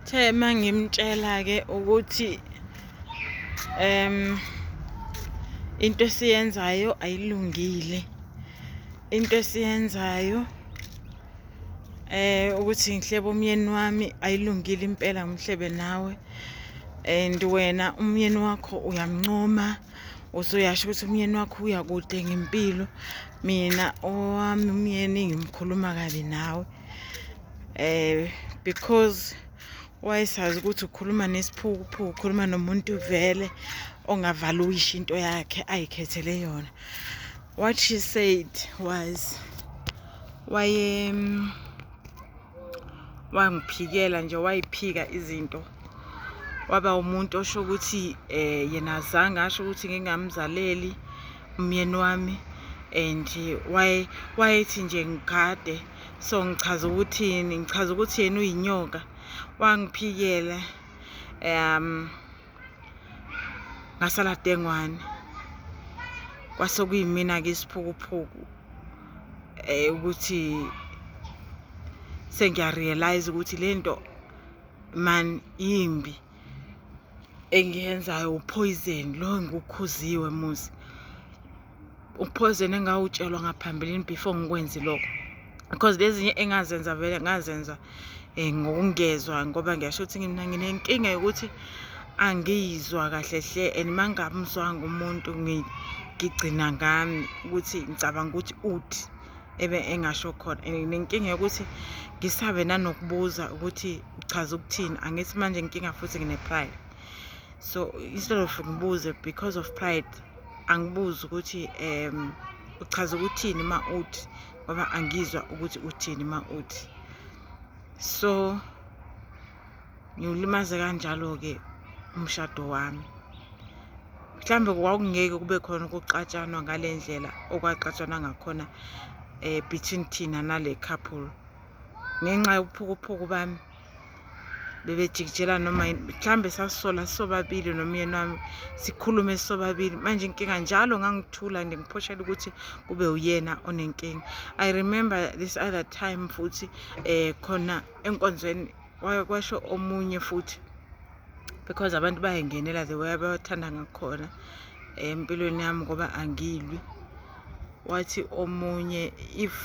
Uthe uma ngimtshela-ke ukuthi um into esiyenzayo ayilungile into esiyenzayo eh ukuthi ngihlebe umyeni wami ayilungile impela ngihlebe nawe and wena umyeni wakho uyamncoma uzoyasho ukuthi umyeni wakho uya kude ngempilo mina owami umyeni ngimkhuluma kabi nawe eh because wayesazi ukuthi ukhuluma nesiphukuphuku ukhuluma nomuntu vele ongavala uyisho into yakhe ayikhethele yona what she said was waye wangiphikela nje wayiphika izinto waba umuntu osho ukuthi eh yena azange asho ukuthi ngingamzaleli umyeni wami and waye wayethi nje ngigade so ngichaza ukuthini ngichaza ukuthi yena uyinyoka wangiphikela um ngasala dengwane kwase kuyimina-ke isiphukuphuku um ukuthi sengiyarealize ukuthi le nto man yimbi engiyenzayo uphoyizeni lo ngikukhuziwe muzi uphoyizeni engawutshelwa ngaphambilini before ngikwenzi lokho because lezinye engazenza vele ngazenza um ngokungezwa ngoba ngiyasho ukuthi mina nginenkinga yokuthi angiyizwa kahle hle and uma ngingamzwanga umuntu ngigcina ngami ukuthi ngicabanga ukuthi uthi ebe engasho khona and nenkinga yokuthi ngisabe nanokubuza ukuthi uchaza ukuthini angithi manje inkinga futhi ngine-pride so instead of ngibuze because of pride angibuzi ukuthi um uchaza ukuthini uma uthi ngoba angizwa ukuthi uthini uma uthi so ngiwulimaze kanjalo-ke umshado wami mhlawumbe kwakungeke kube khona ukuxatshanwa ngale ndlela okwaxatshanwa ngakhona um between thina nale couple ngenxa yobuphukuphuku bami bebejikijela noma mhlawumbe sasola sobabili nomyeni wami sikhulume sobabili manje inkinga njalo ngangithula nje ngiphoshela ukuthi kube uyena onenkinga i remember this other time futhi eh khona enkonzweni kwasho omunye futhi because abantu bayangenela the way abathanda ngakhona eh, empilweni yami ngoba angilwi wathi omunye if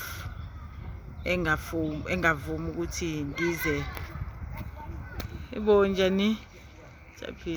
engavumi engavumi ukuthi ngize ibo njani japhi